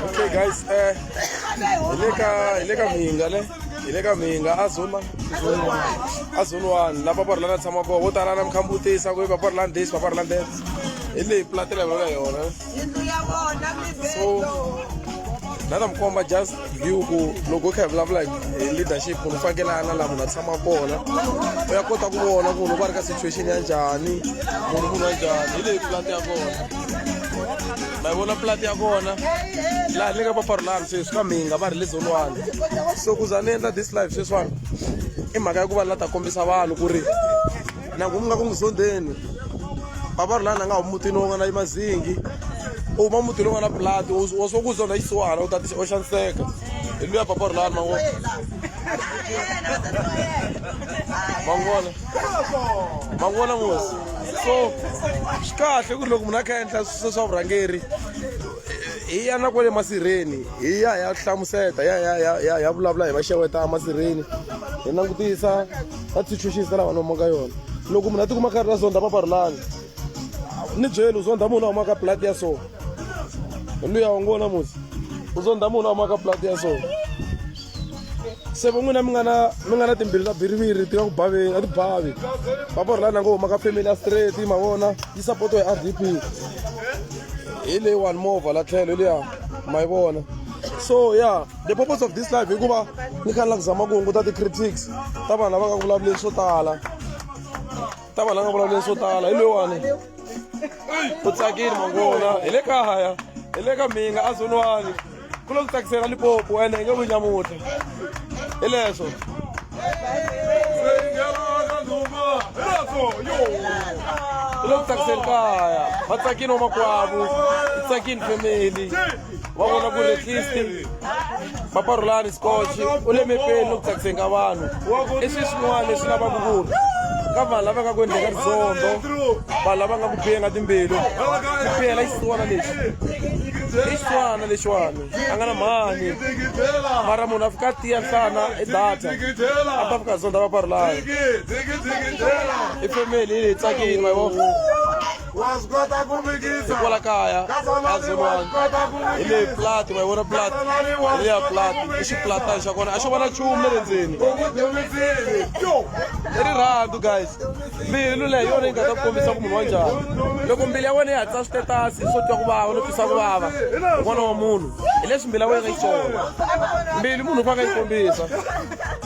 okay guys eh le ka le ka minga le hi le ka minga a zone a zone one la papa rila na tshama kona vo tala na mi khambutisa ku papa rila this papa rila that hi leyi platela hi vulaka yona so na ta mi komba just hi ku loko u kha hi vulavula hi leadership munhu u fanekele a na laha munhu a tshama kona u ya kota ku vona ku loko a ri ka situation ya njhani munhu munhu wa njhani hi leyi pulati ya kona ma yi vona pulati ya kona laha ni nga va farulani sweswi ka mhinga va ri le zolwani so ku za ni endla this life sweswiwani i mhaka ya ku va la ta kombisa vanhu ku ri na ku nga ku muzondheni bava ri lana nga humi mutini wo nga na mazingi u huma mutini wo nga na pulati wa swo ku zonda xisiwana u ta u xaniseka hi luya bava ri lani mango mangona mangona ngosi so swi kahle ku ri loko munhu a kha endla swise swa vurhangeri hi ya na kwale masirheni hi ya ya hlamuseta ya ya ya ya ya vulavula hi va xeweta masirheni hi langutisa va titshunxisa lava nomo ka yona loko munhu a tikuma karhi la zonda paparulani ni byeli u zonda munhu a humaka blood ya so luya u ngo namusi u zonda munhu a humaka blood ya so se vo n'wina mi nga na mi nga na timbiri ta biriviri ti nga ku baveni a ti bavi paparulani a ngo humaka family ya straight ma vona yi support hi r d p hi leyiwani movha la tlhelo hi liya ma yi vona so ya yeah. the purpose of this life hikuva ni kha ni la ku zama ku hunguta ti-critics ta vanhu lava nga ku vulavuleni swo tala ta vanhu la nga vulavuleni swo tala hi loyiwani u tsakile mangona hi le kaya hi le ka mhinga a zoniwani ku lo ku tsakisela lipopo ene hi nge vuyi nyamutlha hi leswo ku lo ku tsakisela kaya va tsakile wa makwavo u tsakile family va vona ku racist papa rhulani scotch u le mepeni loku tsakiseni ka vanhu i swi swin'wana leswi lavaka ku ri ka vanhu lava nga ku endleka rizondo vanhu lava nga ku biyenga timbilu ku biyela xisiwana lexi i xiswana lexiwani a nga na mhani mara munhu a fika tiya nhlana i data a ta fika zonda va parulayo i family yi leyi tsakini ma vo Ikola kaya kazolwani hi leyi plati ma yi vona plati hi leya plati i xiplatani xa kona a xo vona chumu le le ndzeni i rirhandzu guys mbilu leyi yona yi nga ta kombisa ku munhu wa njhani loko mbilu ya wena yi hatlisa switetasi swo twa ku vava no twisa ku vava n'wana wa munhu hi leswi mbilu ya wena yi tsona mbilu munhu u fanele yi kombisa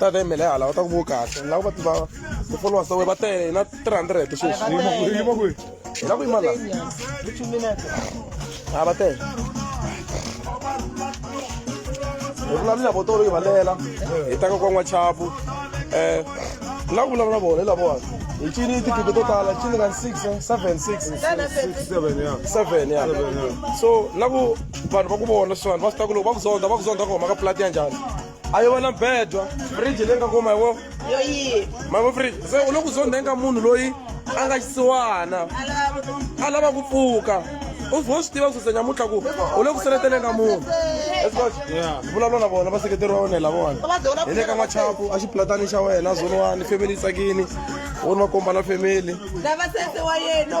ta ta yimele hala va ta ku vo kahle lava va tiva ti-followers ta wena va tele na three hundred sweswi hi la ku yima la a va tele hi vulavula vo tolo yi valela hi taka kwa n'wachapu um la ku vulavula vona hi lavona hi cini tigibe to tala cini ka six seven six seven ya so la ku vanhu va ku vona swin'wana va swi ta ku loko va ku zonda va ku zonda ku huma ka plati ya njhani a yi vona bedwa fridge leyi nga kuma hi wo yoyi mavo fridge se u le ku zondhenga munhu loyi a nga xisiwana a lava ku pfuka u vo swi tiva kususa nyamutlha ku u le ku seleteleka munhu vulavula na vona vaseketeri va wena hi lavona hi le ka n'wachapu a xiplatani xa wena zoniwani family yi tsakini u ni va komba na family lava sese wa yena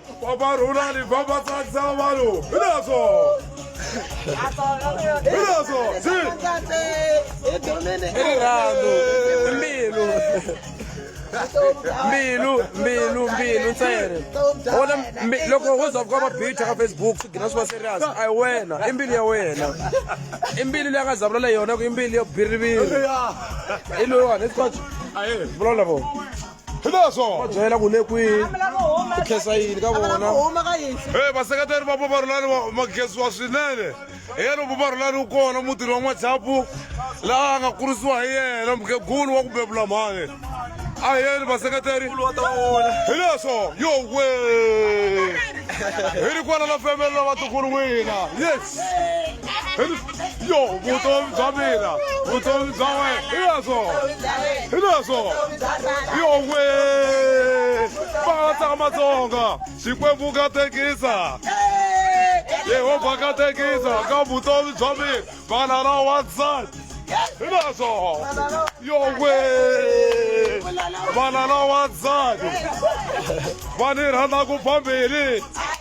Babarulali babatsakisa vanhu hi leswo hi leswo si rirhandzu mbilu mbilu mbilu mbilu ntsena wona mbi- loko wo za kuka mabitha ka facebook swi gina swi va serious a hi wena i mbilu ya wena i mbilu leyi a nga zavula leyi yona ku i mbilu yo biriviri i loyiwani i scotch aye vulavula vo hi leswo va byela ku le kwihi ku khensa yini ka vona e vaseketeri va paparulani ma khensiwa swinene hi yena paparulani wu kona mutini wa n'wachapu laha a nga kurisiwa hi yena mukhegulu wa ku bebula mhani a hi yeni vaseketeri hi leswo yowe hi ri kwala la femelo vatukulu wina yes yo vutomi bya mina vutomi bya wena hinaswo hinaswo yowe matsaka matsonga xikwembu ka tekisa yehova ka tekisa ka vutomi bya mina vana ra wansati hinaswo yowe vana ra wansati va ni rhandza ku phambili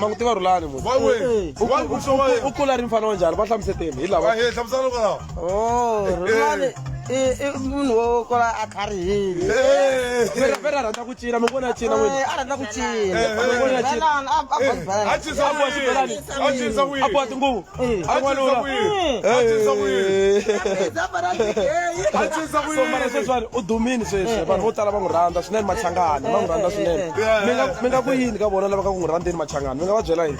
mangutiva rhulani munhu u kula ri mfana wa njhani va hlamuseteni hi lava Oh, rhulani i i munhu wo kwala a tlharihile Vera- vera rhandza ku cina mi vona cina n'wini Eh, a rhandza ku cina Eh, eh, Bona cina. Belani, a- a box belani. a cinisa Abu Abu Belani. wini a cinisa wini a boha tinguvu a a cinisa n'wanuna wini a cinisa wini a cinisa so mara wini sweswiwani u dumini sweswi vanhu vo tala va n'wi rhandza swinene machangani va n'wi rhandza swinene Yeah. mi nga mi nga ku yini ka vona lava ka ku n'wi rhandzeni machangani mi nga va byela yini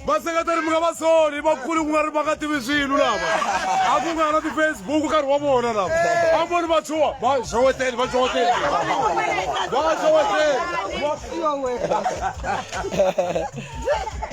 vaseketeri mi nga va soni vakulu ku nga ri va nga tivi swilo lava a ku nga na ti-facebook nkarhi wa vona lava a voni vatshuwa va xoweteni va xoweteni va xoweteni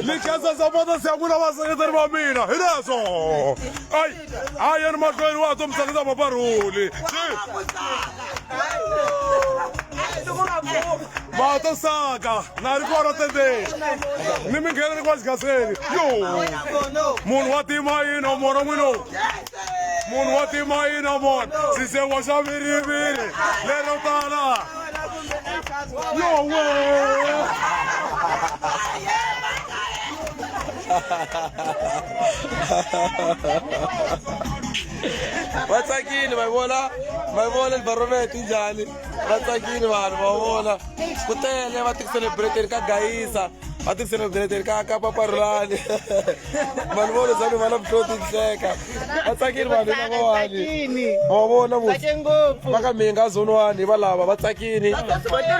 mi khensa sapota se ya n'wina vaseketeri va mina hi leswo ayi a yeni mahlweni wa to mi tsakisa vaparhuli vato saka na ri kona tendeni ni mi ngheneni kwa xigaseni yo munhu wa tima yini wa mona n'wini munhu wa timayina mona sisekwa xa viriviri lero tala yowe va tsakile va vona va vona barometri njhani va tsakile vanhu va vona ku tele va ti-celebrateni ka gayisa va ti-celebrateni ka ka paparulani vanhu vo lezani va na vuhloti hleka va tsakile vanhu lavawani va vona va ka minga zonwani va lava va tsakile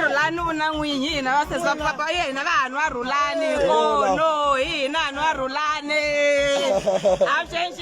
rhulani u na n'winyi hina va sesa papa ye hina vanhu va rhulani kono hina vanhu va rhulani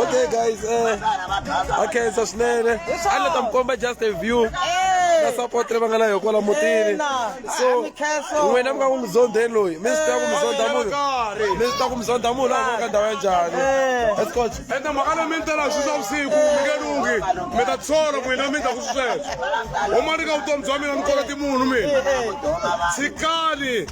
okay guys eh, a khensa swinene a ni ta mi komba just a view na support leyi va nga na yo kwala mutini so n'wina mi nga ku mizondheni loyi mi swi tiva ku mizondha munhu mi swi tiva ku mizondha munhu a nga ka ndhawu ya njhani escotch ende mhaka leyi mi ni tela swi swa vusiku mi nge lungi mi ta tshola n'wina mi ndzaku swisweswo huma ni ka vutomi bya mina ni koloti munhu mina tshikani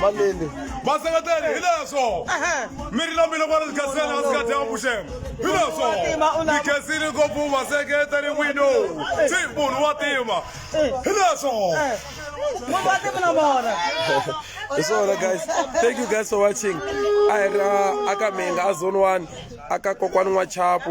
Malindi. Vaseketeri hi leswo. Mi ri lombile ku ri khensela a sikati ya vuxenga. Hi leswo. Mi khensile ngopfu vaseketeri n'wino. Si munhu wa tima. Hi leswo. Munhu wa tima na mona. Hi swona guys. Thank you guys for watching. A hi ra aka Menga a zone 1 aka kokwani n'wa Chapu.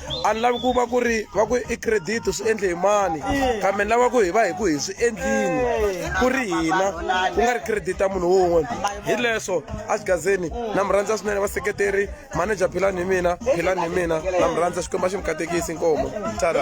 a ni lavi ku va ku ri va ku i credit swi endle hi mani kambe ni lava ku hi va hi ku hi swi endlini ku ri hina ku nga ri credit ya munhu wun'we hi leswo a xigazeni na mi rhandza swinene vaseketeri manager philani hi mina philani hi mina na mi rhandza xikwembu a xi mi katekisi nkomo tara